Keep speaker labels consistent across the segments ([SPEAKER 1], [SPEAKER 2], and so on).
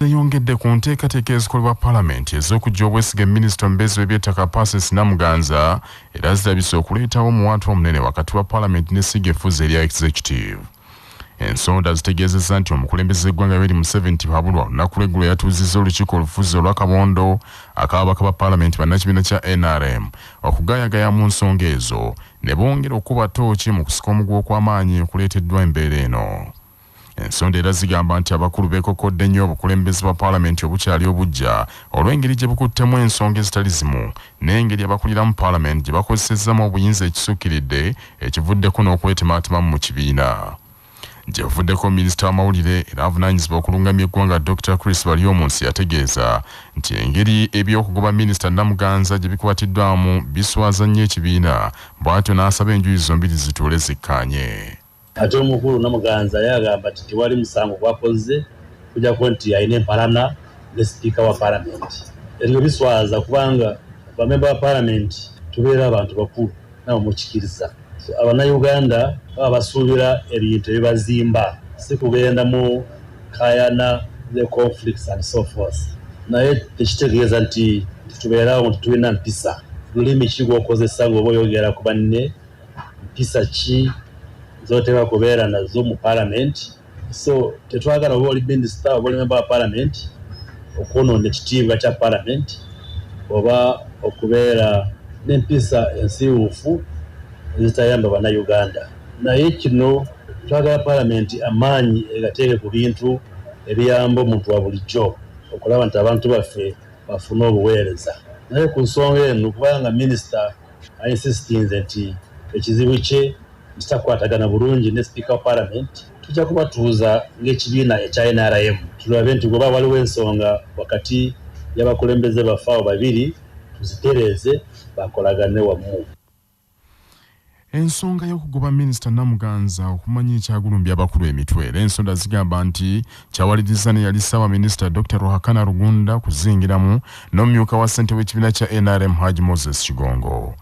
[SPEAKER 1] yayongedde ku nteekateeka ezikolebwa palamenti ez'okujja obwesiga minisita omubeezi w'ebyettaka pasis namuganza era zirabise okuleetawo omuwaatu omunene wakati wa palamenti n'essiga effuzi erya executive ensonda zitegeezezza nti omukulembeze eggwanga yoweri museveni tibabulwa olunaku lweggulo yatuuzizza olukiiko olufuzi olwakabondo akababaka ba palamenti bannakibiina kya nrm okugaayagaya mu nsonga ezo ne bongera okukuba ttooki mu kusika omuguwa okw'amaanyi okuleeteddwa embeera eno. Ensonda era zigamba nti abakulu beekokkodde nnyo obukulembeze bwa paalamenti obukyali obuggya olw'engeri gye bukuttemu ensonga ezitali zimu n'engeri abakuliramu paalamenti gye bakozesezzamu obuyinza ekisukkiridde ekivuddeko n'okwetemaatemamu mu kibiina. Gye buvuddeko minisita w'amawulire era avunaanyizibwa okulungamya eggwanga Dr Chris Baryomunsi yategeeza nti engeri eby'okugoba minisita Namuganza gye bikwatiddwamu biswaza nnyo ekibiina bw'atyo n'asaba enjuyi zombiri zituule zikkaanye. Ate omukulu
[SPEAKER 2] Namuganza ye agamba nti tewali musango gwakozze kujjako nti alina empalana ne sipiika wa palamenti. Ebyo biswaza kubanga bamemba ba palamenti tubeera bantu bakulu. nawe mukikiriza so abanauganda baba basuubira ebintu ebibazimba si kugenda mu kayana ne conflicts and so forth naye tekitegeeza nti tubeerawo nti tulina mpisa lulimi ki gwokozesa ngaoba oyogera ku banne mpisa ki zoteeka kubeera nazo mu palamenti so tetwagala oba oli minisita oba oli memba wa palamenti okwonoona ekitiibwa kya palamenti oba okubeera n'empisa ensiiwuufu ezitayamba bannayuganda naye kino twagala palamenti amaanyi egateeke ku bintu ebiyamba omuntu wa bulijjo okulaba nti abantu baffe bafuna obuweereza naye ku nsonga eno kubanga minisita Ainsistinze nti ekizibu kye nti takwatagana bulungi ne sipiika wa palamenti. Tujja kubatuuza ng'ekibiina ekya nrm tulabe nti bw'oba waliwo ensonga wakati y'abakulembeze baffe abo babiri tuzitereeze bakolagane wamu. Ensonga
[SPEAKER 1] y'okugoba minisita Namuganza okumanya ekyagulumbye abakulu emitwe era ensonda zigamba nti kyawalirizza neyali ssaabaminisita dr ruhakana rugunda kuzingiramu n'omumyuka wa ssente w'ekibiina kya nrm haj moses kigongo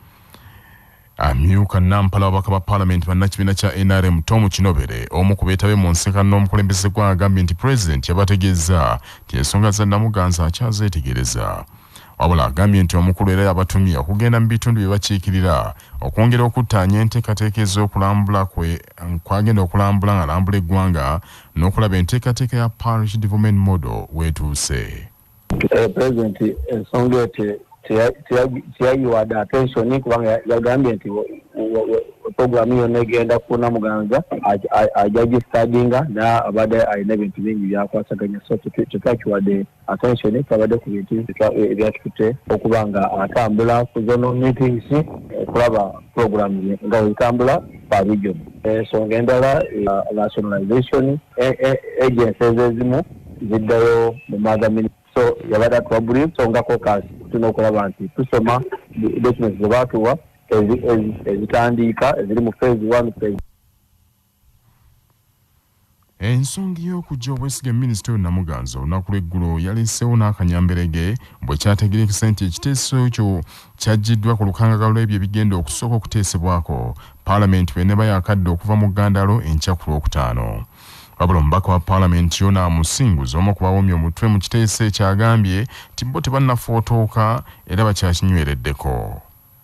[SPEAKER 1] amyuka nampala wabaka ba palamenti bannakibiina kya nrm tom kinobere omu ku beetabe mu nseka n'omukulembeze gwa agambye nti pulezidenti yabategeeza nti ensonga za namuganza akyazeetegereza Wabula agambye nti omukulu era yabatumye okugenda mu bitundu bye bakiikirira okwongera okuttaanya enteekateeka ez'okulambula kwe kwagenda okulambula ng'alambula eggwanga n'okulaba enteekateeka ya Parish Development Model weetuuse. Eh, Pulezidenti
[SPEAKER 3] ensonga eyo teyayiwade atensoni kubanga yagambye nti puroguramu yonna egenda kuna muganza ajagistadinga naye abadde alina ebintu bingi byakwasaganya so tetwakiwadde attention kabadde ku bintu ebyatukutte okuba nga atambula ku zono meetings okulaba eh, program ye nga wetambula pa region ensonga eh, endala eh, nationalization agency ezezimu ziddayo mu maaga so yabadde atuwa buli nsongako kasi tulina okulaba nti tusoma documents zebaatuwa ezitandiika eziri mu phase one phase
[SPEAKER 1] Ensonga y'okujja obwesige minisita oyo Namuganza olunaku lw'eggulo yaleeseewo n'akanyamberege bwe kyategerekese nti ekiteeso ekyo kyaggiddwa ku lukangaga lw'ebyo ebigenda okusooka okuteesebwako paalamenti bw'eneeba yakadda okuva mu ggandaalo enkya ku Lwokutaano. Wabula omubaka wa paalamenti Yona Musinguzi omu ku bawomye omutwe mu kiteeso ekyo agambye nti bo tebannafotooka era bakyakinywereddeko.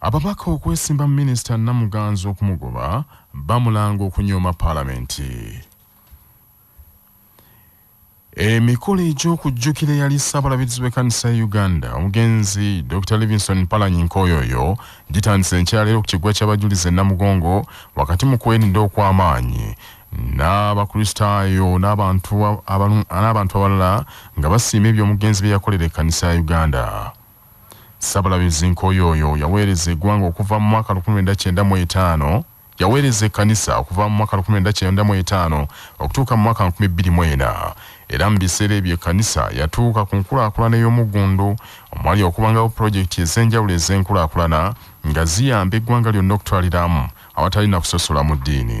[SPEAKER 1] Ababaka okwesimba minisita Namuganza okumugoba bamulanga okunyooma palamenti. Emikolo egy'okujjukira eyali ssabalabirizi w'ekkanisa ya Uganda omugenzi Dr Livingston Mpalanyi Nkoyoyo gitandise nkyaleero ku kiggwa ky'abajulizi e Namugongo wakati mu kwerinda okw'amaanyi n'abakristaayo n'abantu abalala nga basiima ebyo omugenzi bye yakolera ekkanisa ya Uganda. Ssabalabizi Nkoyooyo yaweereza egwanga okuva mu mwaka lukumi lwenda kyenda mu etaano yaweereza ekkanisa okuva mu mwaka lukumi lwenda kyenda mu etaano okutuuka mu mwaka nkumi bbiri mu ena era mu biseera ebyo ekkanisa yatuuka ku nkulaakulana ey'omuggundu omwali okubangawo pulojekiti ez'enjawulo ez'enkulaakulana nga ziyamba eggwanga lyonna okutwaliramu awatali na kusosola mu ddiini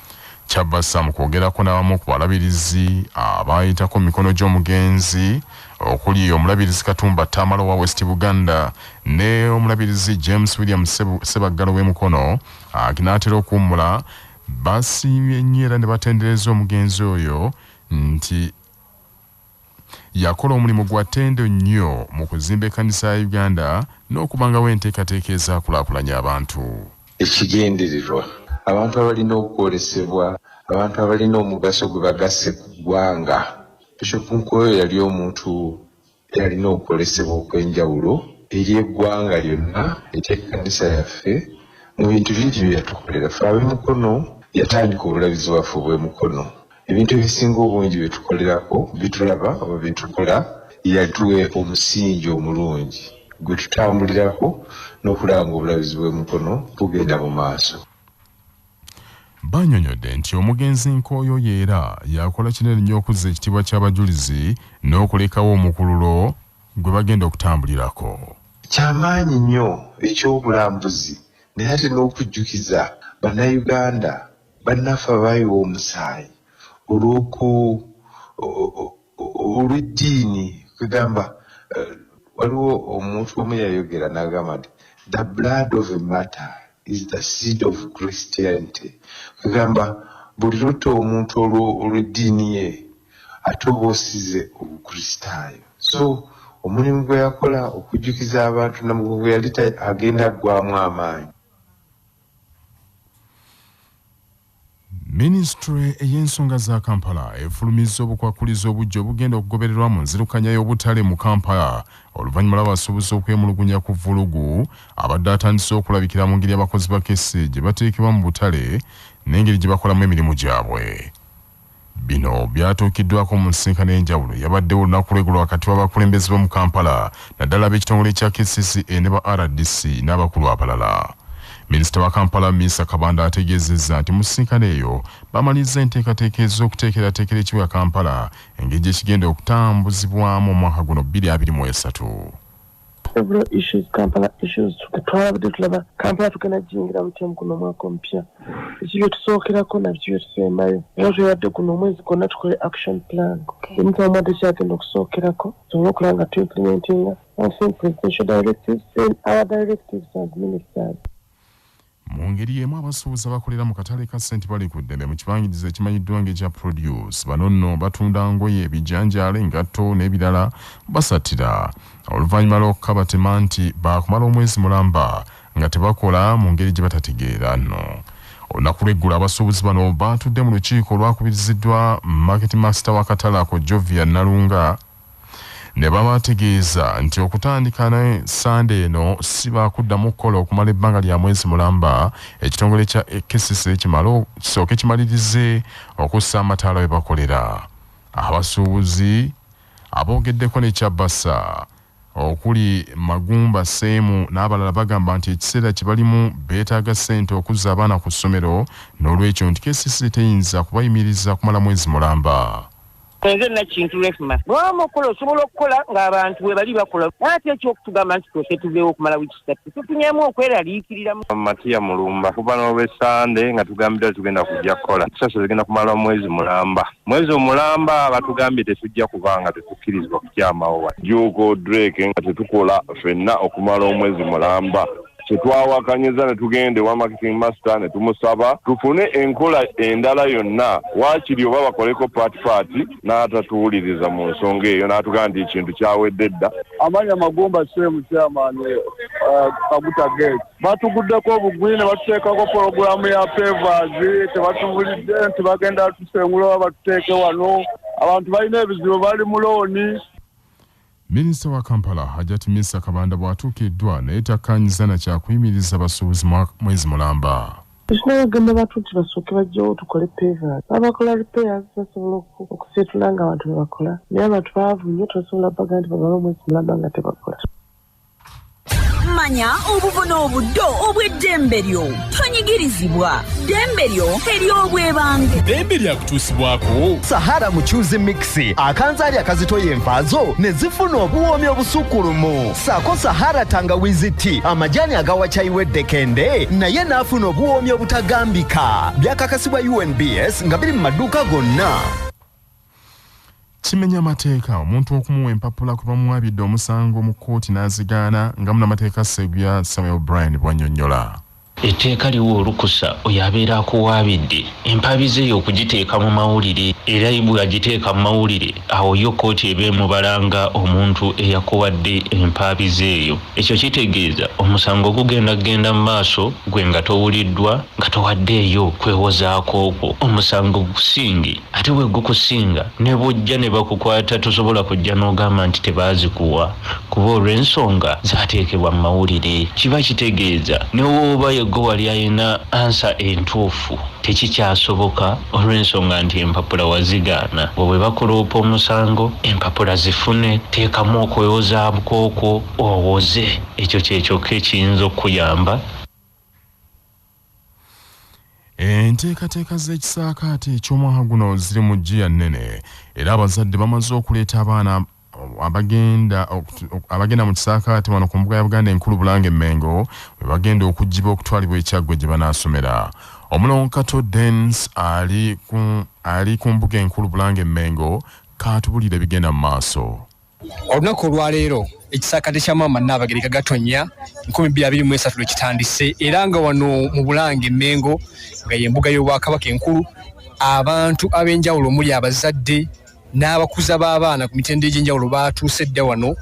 [SPEAKER 1] Kyabassa mu kwogerako n'abamu ku balabirizi abaayitako mu mikono gy'omugenzi okuli omulabirizi Katumba Tamale owa West Buganda ne omulabirizi James William Ssebaggala ow'e Mukono aginaatera okuwummula basiimye nnyo era ne batendereza omugenzi oyo nti Yakola omulimu gwa ttendo nnyo mu kuzimba ekkanisa ya Uganda n'okubangawo enteekateeka ezaakulaakulanya abantu. Ekigendererwa,
[SPEAKER 4] Abantu abalina okwolesebwa, abantu abalina omugaso gwe bagasse ku ggwanga. Bishop Nkoyo yali omuntu eyalina okwolesebwa okw'enjawulo eri eggwanga lyonna ery'ekkanisa yaffe mu bintu bingi bye yatukolera ffe ab'e Mukono. Yatandika Obulabirizi bwaffe obw'e Mukono. Ebintu ebisinga obungi bye tukolerako, bye tulaba oba bye tukola, yatuwa omusingi omulungi gwe tutambulirako n'okulaba ng'obulabizi bw'emikono bugenda mu maaso. Banyonyodde
[SPEAKER 1] nti omugenzi Nkooyo oyo era yakola kinene nnyo okuzza ekitiibwa ky'abajulizi n'okulekawo omukululo gwe bagenda okutambulirako. Kyamaanyi
[SPEAKER 4] nnyo eky'obulambuzi naye ate n'okujjukiza bannayuganda Bannaffe abaayiwa omusaayi olw'oku olw'eddiini kwegamba eh, waliwo omuntu omu yayogera n'agamba nti the blood of a matter is the seed of christianity kwegamba buli lutta omuntu olw'eddiini ye ate oba osize obukristaayo so omulimu gwe yakola okujjukiza abantu namugogo yali agenda aggwamu amaanyi
[SPEAKER 1] Minisitule ey'ensonga za Kampala efulumizza obukwakkulizo obujja obugenda okugobererwa mu nzirukanya y'obutale mu Kampala oluvannyuma lw'abasuubuzi okwemulugunya ku vvulugu abadde atandise okulabikira mu ngeri abakozi ba kesi gye bateekebwa mu butale n'engeri gye bakolamu emirimu gyabwe. Bino byatuukiddwako mu nsisinkano ey'enjawulo eyabaddewo olunaku lw'eggulo wakati w'abakulembeze b'omu Kampala naddala ab'ekitongole kya kcca ne ba rdc n'abakulu abalala. Minisita wa Kampala Minsa Kabanda ategeezezza nti mu nsisinkano eyo baamalirizza enteekateeka ez'okuteekerateekera ekibuga Kampala engeri gye kigenda okutambuzibwamu omwaka guno bbiri abiri mu esatu. Several
[SPEAKER 5] issues, Kampala issues. Twalabadde tulaba Kampala tugenda jiyingira butya mu guno omwaka omupya. Biki bye tusookerako na biki bye tusembayo. Era twebadde guno omwezi gwonna tukole action plan. Emitala omwadde kyagenda okusookerako tusobole okulaba nga tuimplementinga onsen presidential directives then our directives as ministers.
[SPEAKER 1] Mu ngeri y'emu abasuubuzi abakolera mu katale ka St Bali ku Ddene mu kibangirizi ekimanyiddwa ng'ekya Produce bano nno batunda ngoye, ebijanjaalo, engatto n'ebirala basattira oluvannyuma lw'okukabatema nti baakumala omwezi mulamba nga tebakola mu ngeri gye batategeera nno. Olunaku lw'eggulo abasuubuzi bano baatudde mu lukiiko olwakubiriziddwa Market Master w'akatale ako Jovia Nalunga, ne babategeeza nti okutandika ne ssande eno si baakuddamu kukola okumala ebbanga lya mwezi mulamba ekitongole kya kcc kimale kisooke kimalirize okussa amataala we bakolera abasuubuzi aboogeddeko ne kyabasa okuli Magumba Seemu n'abalala bagamba nti ekiseera kye balimu beetaaga ssente okuzza abaana ku ssomero n'olwekyo nti KCC teyinza kubayimiriza kumala mwezi mulamba. enze
[SPEAKER 6] nakintu refma bwama okukola osobola okukola ng'abantu webali bakola ate ekyokutugamba nti twese tuzeewo okumala wiiki satu tufunyemu okweraliikirira matiya mulumba
[SPEAKER 7] kuva n'olwesande nga tugambidwa tugenda kujja kukola sasa zigenda kumala mwezi mulamba mwezi omulamba batugambye tetujja kubanga tetukkirizibwa kukyamawo wa juuko drake nga tetukola fenna okumala omwezi mulamba kyetwawakanyiza netugenda ewa marketing master netumusaba tufune enkola endala yonna waakiri oba bakoleko paati paati n'atatuwuliriza mu nsonga eyo n'atugamba nti ekintu kyawedde dda amanya magumba
[SPEAKER 8] semu kyamaani uh, kaguta gate batuguddeko obugwi ne batuteekako pologulaamu ya favors tebatubulidde nti bagenda tusengula oba batuteeke wano abantu balina ebizibu bali mu looni
[SPEAKER 1] Minisita wa Kampala, Hajati Minsa Kabanda bw'atuukiddwa naye takkaanyizza na kya kuyimiriza basuubuzi mwezi mulamba. Ekifo bagamba
[SPEAKER 5] bantu nti basooke bajjewo tukole pevers babakola repairs basobola okusiitula nga abantu bebakola naye abantu baavu nnyo tosobola baga nti bamale omwezi mulamba nga tebakola. manya
[SPEAKER 9] obubona obuddo obw'eddembe lyo tonyigirizibwa ddembe lyo ery'obwebange ddembe
[SPEAKER 10] lyakutuusibwako sahara mucuzi
[SPEAKER 11] mixi akanzaali akazitoya envaazo ne zifuna obuwoomi obusukkulumu saako sahara tangawizi ti amajaani agawa kyayi w'eddekende naye n'afuna obuwoomi obutagambika byakakasibwa unbs nga biri mu maduuka gonna
[SPEAKER 1] kimenya amateeka omuntu okumuwa empapula kwe bamuwabidde omusango mu kkooti n'azigaana nga munamateeka segubya samuel brian bwanyonyola etteeka liwa
[SPEAKER 12] olukusa oyo abeera akuwaabidde empaabi ze y'okugiteeka mu mawulire era bwe agiteeka mu mawulire awo yo kkooti eba emubala nga omuntu eyakuwadde empaabi ze eyo ekyo kitegeeza omusango gugenda kugenda mu maaso gwe nga towuliddwa nga towaddeeyo kwewozaako okwo omusango gusinge ate wegukusinga ne bwojja ne bakukwata tosobola kujja n'ogamba nti tebaazikuwa kuba olw'ensonga zaateekebwa mu mawulire kiba kitegeeza ne wooba yegwe wali alina ansa entuufu tekikyasoboka olw'ensonga nti empapula wazigaana bwe bwe bakuloopa omusango empapula zifune teekamu okwewozaabukokwo owoze ekyo kyekyokka ekiyinza okukuyamba
[SPEAKER 1] enteekateeka z'ekisaakaate eky'omwaka guno ziri mu ggiya nnene era abazadde bamaze okuleeta abaana abagenda abagenda mu kisaakaate wano ku mbuga ya buganda enkulu bulanga emmengo we bagenda okugibwa okutwalibwa ekyaggwe gye banaasomera omulongo kato dens ali ku mbuga enkulu bulanga emmengo kaatubulire bigenda mu maaso olunaku
[SPEAKER 13] olwaleero ekisaakate kya maama nnaabagereka gatonnya 223 lwe kitandise era nga wano mu bulange emmengo nga y'embuga y'obwakabaka enkulu abantu ab'enjawulo omuli abazadde n'abakuza b'abaana ku mitendo egy'enjawulo baatuuse dda wano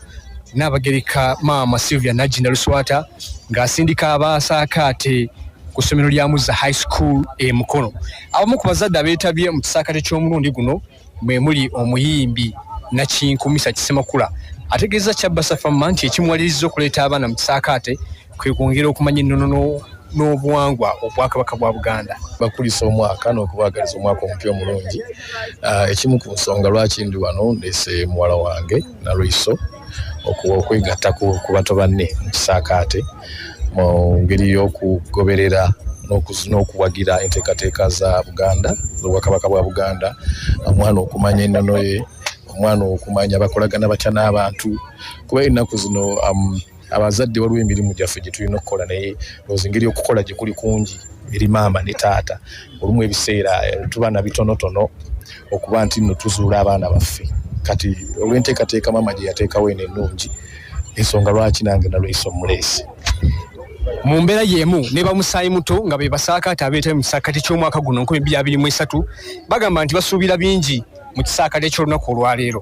[SPEAKER 13] nnaabagereka maama sylvia najjinda luswata ng'asindika abaasaakaate ku ssomero lya muzza high school e mukono abamu ku bazadde abeetabye mu kisaakate ky'omulundi guno mwe muli omuyimbi nakinku misa kisemakula ategeeza kyabbasa famma nti ekimuwaliriza okuleeta abaana mu kisaakaate kwe kwongera okumanya ennono n'obuwangwa obwakabaka bwa buganda bakulisa omwaka
[SPEAKER 14] n'okubaagaliza omwaka omupya omulungi ah, ekimu ku nsonga lwaki ndi wano ndeese muwala wange nalwiso okuwa okwegatta ku bato banne mu kisaakaate mu ngeri y'okugoberera n'okuwagira enteekateeka za buganda obwakabaka bwa buganda omwana okumanya ennono ye omwana okumanya bakolagana batya n'abantu kuba ennaku zino um, abazadde waliwo emirimu gyaffe gye tulina okukola naye ozi ngeri okukola gye kuli kungi eri maama ne taata olumu ebiseera eh, tuba na bitonotono okuba nti no tuzuula abaana baffe kati olw'enteekateeka maama gye yateekawo eno ennungi ensonga lwaki nange nalweyisa omuleesi
[SPEAKER 13] mu mbeera y'emu ne bamusaayi muto nga be basaakaate abeetali mu kisaakate ky'omwaka guno nkumi bbiri abiri mu esatu bagamba nti basuubira bingi mu kisaakate ky'olunaku olwaleero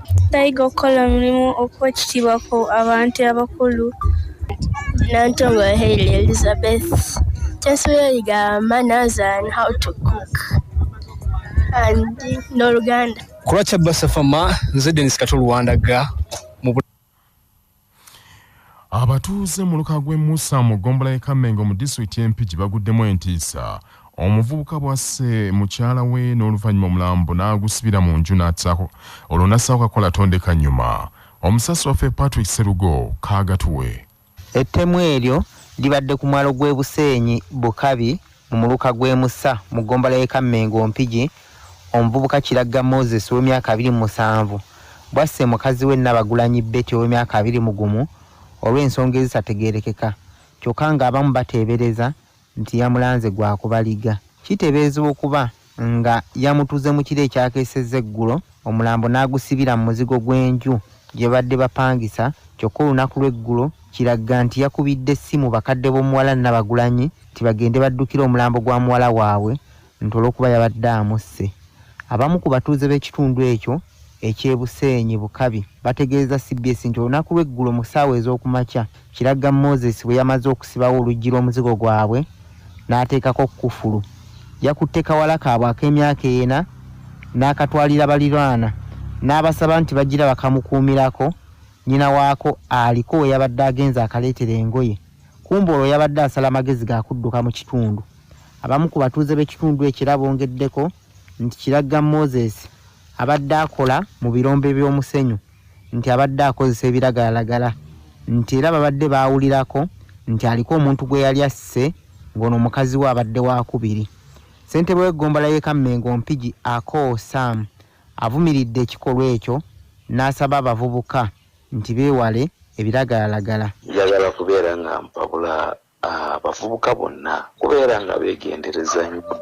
[SPEAKER 15] Bayiga okukola omulimu okuwa ekitiibwa ku abantu abakulu. Nantongo Hailey Elizabeth. Kyensubiriga manners and how to cook and n'oluganda. Kulwa Kyabba Safama,
[SPEAKER 13] nze Dennis Kato Luwandaga.
[SPEAKER 1] abatuuze mu luka gw'e musa mu ggombola y'e kammengo mu disitulikiti y'empigi baguddemu entiisa omuvubuka bwasse mukyala we n'oluvannyuma omulambo n'agusibira mu nju n'atsako olwo n'assaako kakola tondeka nnyuma omusasi waffe patrick serugo kaagatuwe Ettemu
[SPEAKER 16] eryo libadde ku mwalo gw'e Buseenyi Bukabi mu muluka gw'e Musa mu ggombolola y'e Kammengo Mpigi, omuvubuka Kiragga Moses ow'emyaka abiri mu musanvu bw'asse mukazi we Nabagulanyi Betty ow'emyaka abiri mu gumu olw'ensonga ezitategeerekeka kyokka ng'abamu bateebereza nti yamulanze gwa kubaliga kitebeezebwa okuba nga yamutuze mu kiro ekyakeesezza eggulo omulambo n'agusibira mu muzigo gw'enju gye babadde bapangisa kyokka olunaku lw'eggulo kiragga nti yakubidde essimu bakadde b'omuwala Nabagulanyi nti bagende baddukire omulambo gwa muwala waabwe nti olw'okuba yabadde amusse. Abamu ku batuuze b'ekitundu ekyo eky'e Buseenyi Bukabi bategeezza cbs nti olunaku lw'eggulo mu ssaawa ez'okumakya Kiragga Moses bwe yamaze okusibawo oluggi lw'omuzigo gwabwe n'ateekako kkufulu, yakutte kawala kaabwe ak'emyaka ena n'akatwalira baliraana n'abasaba nti bagira bakamukuumirako nnyina waako aliko we yabadde agenze akaleetere engoye kumbe olwo yabadde asala magezi ga kudduka mu kitundu. Abamu ku batuuze b'ekitundu ekyo era bongeddeko nti Kiragga Moses abadde akola mu birombe by'omusenyu nti abadde akozesa ebiragalalagala nti era babadde baawulirako nti aliko omuntu gwe yali asse ng'ono mukazi we abadde waakubiri. Ssentebe w'eggombolola y'e Kammengo Mpigi Akoo Sam avumiridde ekikolwa ekyo n'asaba abavubuka nti beewale ebiragalalagala. Njagala kubeera
[SPEAKER 17] nga mpabula abavubuka bonna kubeera nga begendereza nnyo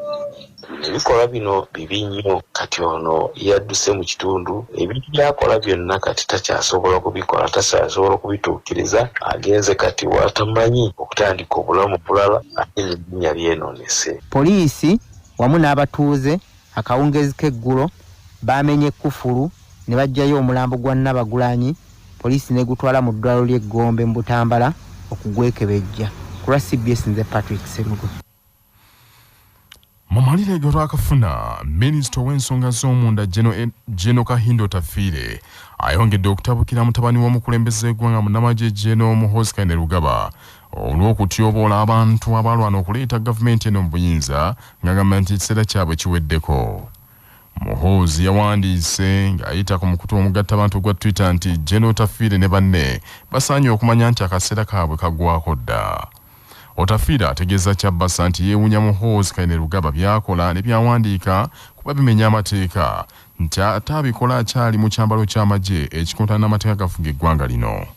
[SPEAKER 17] ebikolwa bino bibi nnyo kati ono yadduse mu kitundu ebintu byakola byonna kati takyasobola kubikola takyasobola kubituukiriza agenze kati watamanyi okutandika obulamu bulala ate n'erinnya lyenoonese. Poliisi
[SPEAKER 16] wamu n'abatuuze Akawungeezi k'eggulo baamenye kkufulu ne baggyayo omulambo gwa Nabagulanyi poliisi n'egutwala mu ddwaliro ly'e Gombe mu Butambala okugwekebejja. Ku lwa cbs nze Patrick Sserugo.
[SPEAKER 1] Mu mawulire ge twakafuna, minisita ow'ensonga z'omunda Geno Kahindo Tafiire ayongedde okutabukira mutabani w'omukulembeze gw'egwanga munamagye Geno Muhoozi Kainerugaba olw'okutyoboola abantu abaalwana okuleeta gavumenti eno mu buyinza ng'agamba nti ekiseera kyabwe kiweddeko. Muhoozi yawandiise ng'ayita ku mukutu omugattabantu ogwa Twitter nti Gen Otafiire ne banne basaanye okumanya nti akaseera kaabwe kaggwako dda. Otafiire ategeeza Kyabasa nti yeewunya Muhoozi Kainerugaba by'akola ne byawandiika kuba bimenya amateeka nti ate abikola akyali mu kyambalo ky'amagye ekikontana n'amateeka gafuga eggwanga lino.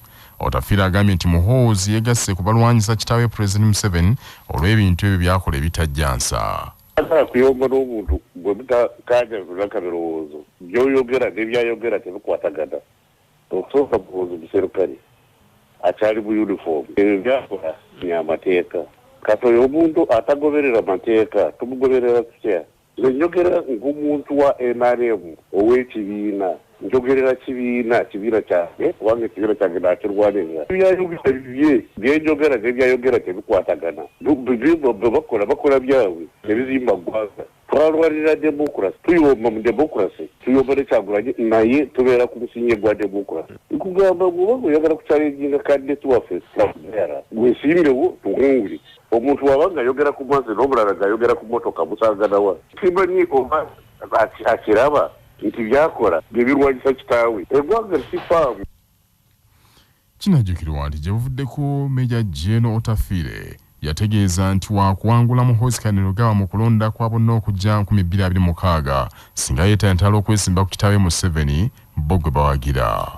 [SPEAKER 1] Otafiire agambye nti Muhoozi yegasse ku balwanyisa kitaawe Pulezidenti Museveni olw'ebintu ebyo byakola ebitajja nsa. Sagala kuyomba
[SPEAKER 7] n'omuntu gwe mutakaanyazula ka birowoozo, by'oyogera ne by'ayogera tebikwatagana. Okusooka Muhoozi muserikale, akyali mu yunifoomu, ebyo by'akola bya mateeka. Kati oyo omuntu atagoberera mateeka tumugoberera tutya? Nze njogera ngomuntu wa nrm owekibiina njogerera kibiina kibiina kyange kubanga ekibiina kyange nakirwanirira byayogera bibye byenjogera nebyayogera tebikwatagana bebakola bakola byabwe tebizimba ggwanga twalwanirira democracy tuyomba mu democracy tuyomba nekyagulanyi naye tubeera ku musinye gwa democracy nkugamba gwoba oyagala kukyalenjinga kandidate waffe era gwesimbewo tuwungule Omuntu waba nga yogera ku mazi n'omulala nga yogera ku motoka musanganawa? Simanyi oba akiraba nti byakola byebirwanyisa kitaawe egwanga sifaamu. Kinajjukirwa
[SPEAKER 1] nti gye buvuddeko Meeja Gen Otafiire yategeeza nti waakuwangula Muhoozi Kainerugaba mu kulonda kwa bonna okujja nkumi bbiri abiri mukaaga singa yeetantala okwesimba ku kitaawe Museveni bo gwe bawagira.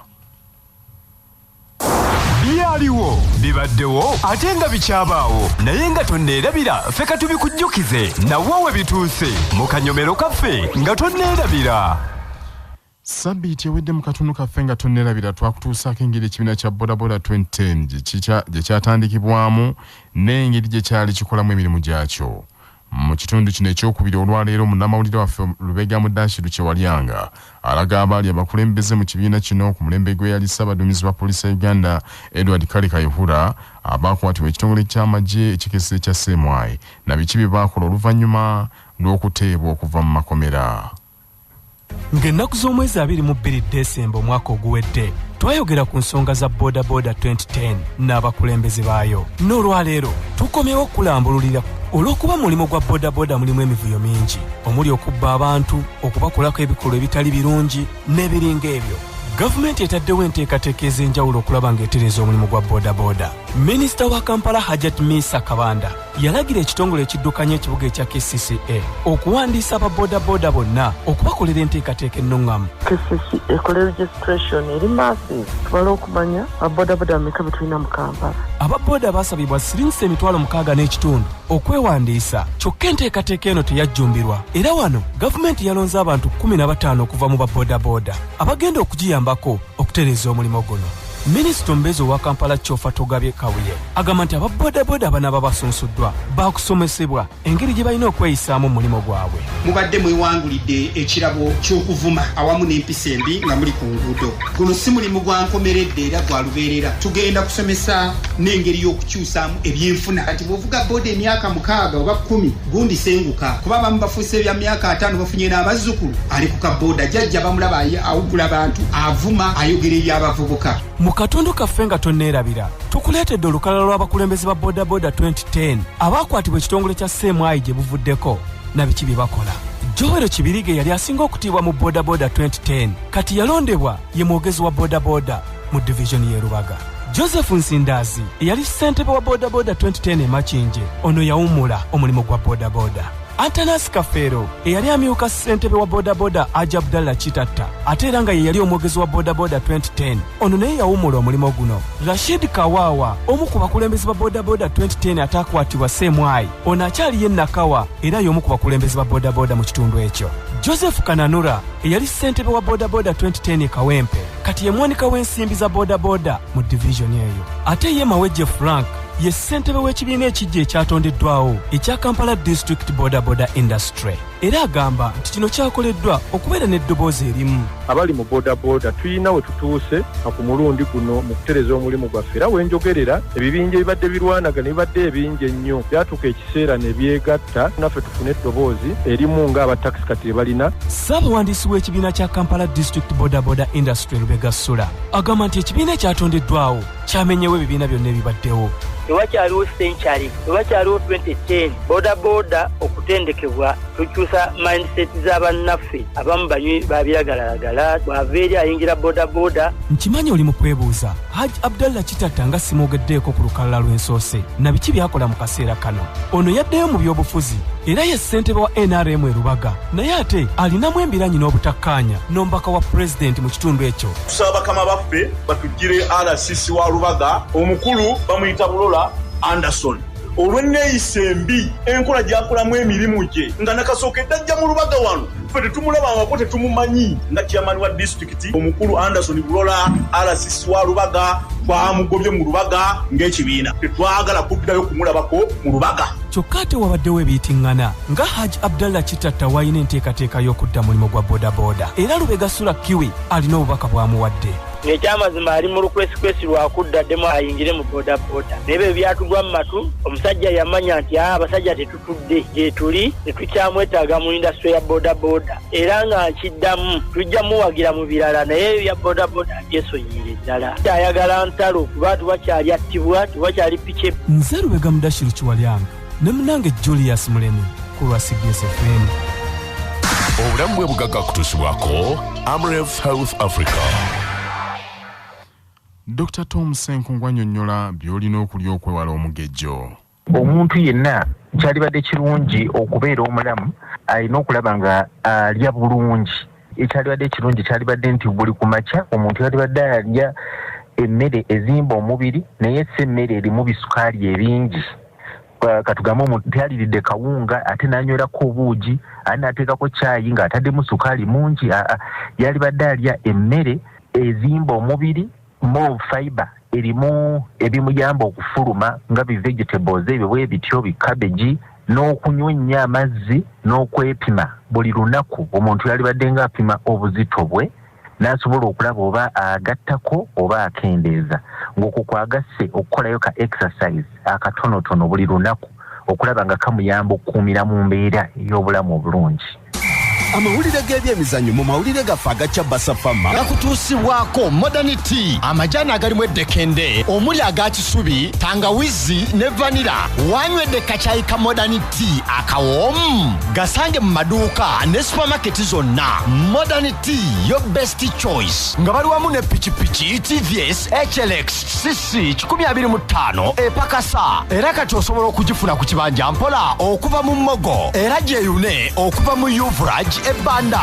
[SPEAKER 18] byaliwo bibaddewo ate nga bikyabaawo naye nga tonneerabira ffe ka tubikujjukize nawo we bituuse mu kanyomero kaffe nga tonneerabira
[SPEAKER 1] sabiiti ewedde mu katundu kaffe nga tonnerabira twakutuusaako engeri ekibiina kya bodaboda 2010 gye kyatandikibwamu n'engeri gye kyali kikolamu emirimu gyakyo Mu kitundu kino ekyokubiri olwaleero munnamawulire waffe Lubega Mudashiru Kyewalyanga alaga abaali abakulembeze mu kibiina kino ku mulembe gw'eyali ssaabaduumizi wa poliisi ya Uganda Edward Kale Kayihura abaakwatibwa ekitongole ky'amagye ekikessi ekya CMI na biki bye baakola oluvannyuma lw'okuteebwa okuva mu makomera.
[SPEAKER 19] ng'ennaku z'omwezi abiri mu bbiri desemba omwaka oguwedde twayogera ku nsonga za bodaboda 2010 n'abakulembeze baayo n'olwaleero tukomyewo okulambululira olw'okuba mulimu gwa bodaboda mulimu emivuyo mingi omuli okubba abantu okubakolako ebikolwa ebitali birungi n'ebiringa ebyo gavumenti etaddewo enteekateeka ez'enjawulo okulaba ng'etereeza omulimu gwa bodaboda minisita wa kampala hajat misa kabanda yalagira ekitongole ekiddukanya ekibuga ekya kcca okuwandiisa aba bodaboda bonna okubakolera enteekateeka ennuŋŋamu kcca ekola
[SPEAKER 5] registration eri maasi tubale okumanya ababodaboda meka betulina mu kampala ababoda baasabibwa
[SPEAKER 19] siringisa emitwalo mukaaga n'ekitundu okwewandiisa kyokka enteekateeka eno teyajjumbirwa era wano gavumenti yalonze abantu 15 okuva mu babodaboda abagenda okugiyambako okutereeza omulimu guno minisita omubeezi owa kampala kyofa togabye kabuye agamba nti aba bodaboda abanaba basunsuddwa baakusomesebwa engeri gye balina okweyisaamu mu mulimu gwabwe mubadde mwewangulidde
[SPEAKER 2] ekirabo ky'okuvuma awamu n'empisa embi nga muli ku nguudo guno si mulimu gwa nkomeredde era gwa lubeerera tugenda kusomesa n'engeri y'okukyusa saamu ebyenfuna kati bwovuga boda emyaka mukaaga oba kumi gundi senguka kuba abamu bafuuse ebya myaka ataano bafunye n'abazzukulu ali ku kabooda jajja bamulaba awugula bantu avuma ayogera ebyabavubuka mu katundu kaffe
[SPEAKER 19] nga tonneerabira tukuleetedde olukalala lw'abakulembeze ba bodaboda 2010 abaakwatibwa ekitongole kya seemwayi gye buvuddeko na biki bye bakola jowero kibirige yali asinga okutiibwa mu bodaboda 2010 kati yalondebwa ye mwogezi wa bodaboda mu divizoni y'e Lubaga. Joseph Nsindaazi eyali ssentebe wa bodaboda 2010 e Makindye ono yawummula omulimu gwa bodaboda. Antanasi Kafeero eyali amyuka ssentebe wa bodaboda Aja Abdalla Kitatta ate era nga ye yali omwogezi wa bodaboda 2010 ono naye yawummula omulimu guno. Rashid Kawaawa omu ku bakulembeze ba bodaboda 2010 ataakwatibwa Semwayi ono akyaliyo e Nakawa era y'omu ku bakulembeze ba bodaboda mu kitundu ekyo. Joseph Kananura eyali ssentebe wa bodaboda 2010 e Kawempe kati ye mwanika w'ensimbi za bodaboda mu divizoni eyo ate ye mawejje frank ye ssentebe w'ekibiina ekiggya ekyatondeddwawo ekya kampala district bodaboda industry era agamba nti kino kyakoleddwa okubeera n'eddoboozi erimu abali mu bodaboda
[SPEAKER 20] tulina we tutuuse ku mulundi guno mu kutereza omulimu gwaffe era wenjogerera ebibinja ebibadde birwanagana ebibadde ebingi ennyo byatuuka ekiseera ne byegatta naffe tufune eddoboozi erimu ng'abatak kati ebalina ssaabawandiisi w'ekibiina
[SPEAKER 19] kya kampala district bodaboda industry lubega sula agamba nti ekibiina ekyatondeddwawo kyamenyewo ebibiina byonna ebibaddewo ewakyaliwo
[SPEAKER 21] century ewakyaliwo 2010 bodaboda okutendekebwa tukyusa mindset z'abannaffe abamu banywi babiragalalagala bwava eri ayingira bodaboda nkimanyi oli mu
[SPEAKER 19] kwebuuza haj abdallah kitatta nga simwogeddeeko ku lukalala lw'ensoose na biki byakola mu kaseera kano ono yaddeyo mu by'obufuzi era ye ssentebe wa nrm e lubaga naye ate alinamu embiranyi n'obutakkaanya n'omubaka wa pulezidenti mu kitundu ekyo tusaba bakama baffe
[SPEAKER 22] batugire rcc wa lubaga omukulu bamuyita bulola anderson olw'enneeyisa embi enkola gyakolamu emirimu gye nga nakasooka eddajja mu lubaga wano ffe tetumulaba wako tetumumanyi nga chairman wa district disitulikiti omukulu Anderson Bulola RCC wa Lubaga twamugobye mu Lubaga ng'ekibiina tetwagala kuddayo kumulabako mu Lubaga. Kyokka ate wabaddewo
[SPEAKER 19] ebiyitingana nga Hajj Abdallah Kitatta w'alina enteekateeka y'okudda mulimu gwa bodaboda era Lubega Sula Kiwi alina obubaka bw'amuwadde. Ng'ekyamazima
[SPEAKER 21] ali mu lukwesikwesi lwa kudda ddemu ayingire mu bodaboda naye bye byatugwa mu matu omusajja yamanya nti abasajja tetu tudde gyetuli tetukyamwetaaga mu indasitule ya bodaboda era nga nkiddamu tujja muwagira mu birala naye ebya bodaboda abyesonyiire ddala ayagala ntalo kuba tubakyali attibwa tubakyali piki nze lubega mudashiru
[SPEAKER 19] kiwalyanga ne munange julius mulemi ku lwa cbsfm
[SPEAKER 23] obulamu bwe bugagga kutusibwako amref health africa
[SPEAKER 1] dr tom senkungu anyonyola by'olina okulya okwewala omugejjo Omuntu
[SPEAKER 24] yenna kyalibadde kirungi okubeera omulamu alina okulaba nga alya bulungi. Ekyalibadde ekirungi kyalibadde nti buli ku makya omuntu yalibadde alya emmere ezimba omubiri naye si emmere erimu bisukaali ebingi. Katugambe omuntu tyaliridde kawunga ate n'anywerako obuugi ate n'ateekako caayi ng'ataddemu sukaali mungi, aa, yalibadde alya emmere ezimba omubiri. Move fiber erimu ebimuyamba okufuluma nga bi vegetables ebyo bwe bityo bi cabbage n'okunywa ennyo amazzi n'okwepima buli lunaku omuntu yalibadde ng'apima obuzito bwe n'asobola okulaba oba agattako oba akendeeza ng'okwo kwagasse okukolayo ka exercise akatonotono buli lunaku okulaba nga kamuyamba okukuumira mu mbeera ey'obulamu obulungi amawulire
[SPEAKER 11] g'ebyemizannyo mu mawulire gaffe aga kyabasafama gakutuusibwako modernity amajaani agalimu eddekende omuli aga kisubi tangawizi ne vanira wanywedde kakyayi ka modernity akawoomu gasange mu maduuka ne supamaketi zonna modernity yo best choice nga bali wamu ne pikipiki tvs hlx cc 25 epakasa era kati osobola okugifuna ku kibanja mpola okuva mu mmogo era gyeyune okuva mu uvrag ebbanda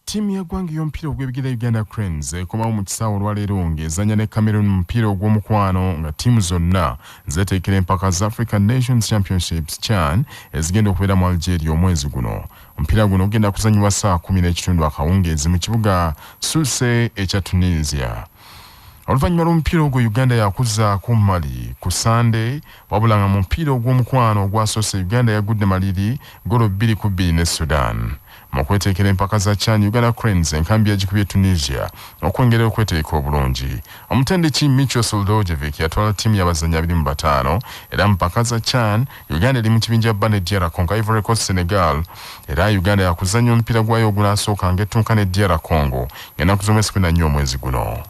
[SPEAKER 1] ttiimu y'eggwanga ey'omupiira ogw'ebigera uganda cranes ekomawo mu kisaawe olwaleero ng'ezanya ne cameron mupiira ogw'omukwano nga ttiimu zonna zeteekera empaka za african nations championships chan ezigenda okubeera mu algeria omwezi guno Omupiira guno gugenda kuzannyibwa ssaawa kumi n'ekitundu akawungeezi mu kibuga Sousse ekya Tunisia. Oluvannyuma lw'omupiira ogwo Uganda yakuzzaako Mali ku Ssande wabula nga mu mupiira ogw'omukwano ogwasoose Uganda yagudde maliri golo bbiri ku bbiri ne Sudan. Mu kweteekera empaka za CHAN, Uganda Cranes enkambi yagikubye Tunisia okwongera okweteeka obulungi. Omutendeki Micho Soldojevic yatwala ttiimu y'abazannyi abiri mu bataano era mu mpaka za CHAN Uganda eri mu kibinja bba ne DR Congo, Ivory Coast, Senegal era Uganda yakuzannya omupiira gwayo ogunaasooka ng'ettunka ne DR Congo ng'ennaku z'omwezi kumi na nnya omwezi guno.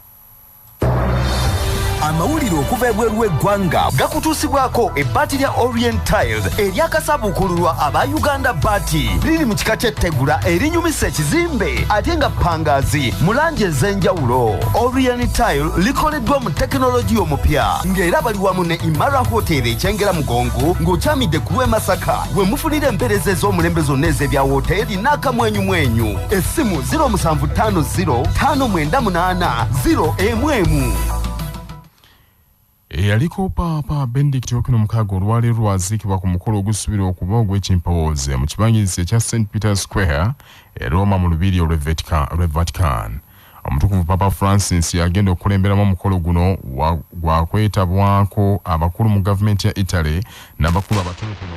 [SPEAKER 11] amawulire okuva ebweru w'eggwanga gakutuusibwako ebbaati lya orient tiles eryakasabuukululwa aba uganda baati liri mu kika ky'ettegula erinyumisa ekizimbe ate nga pangaazi mu langi ez'enjawulo orient tile likoleddwa tekinologiya omupya ng'era bali wamu ne imara hotel ekyengera mugongo ng'okyamidde ku lw'e masaka we mufunira empeereza ez'omulembe zonna ez'ebya wooteeri n'akamwenyumwenyu essimu 07505980 emu emu
[SPEAKER 1] eyaliko paapa benedict okino mukaaga olwaleero lwaziikibwa ku mukolo ogusuubirwa okuba ogw'ekimpowooze mu kibangirizi ekya st peter square e roma mu lubiri olw'e vatican Omutukuvu Papa Francis agenda okukulemberamu omukolo guno gwakwetabwako abakulu mu gavumenti ya Italy n'abakulu abatonotono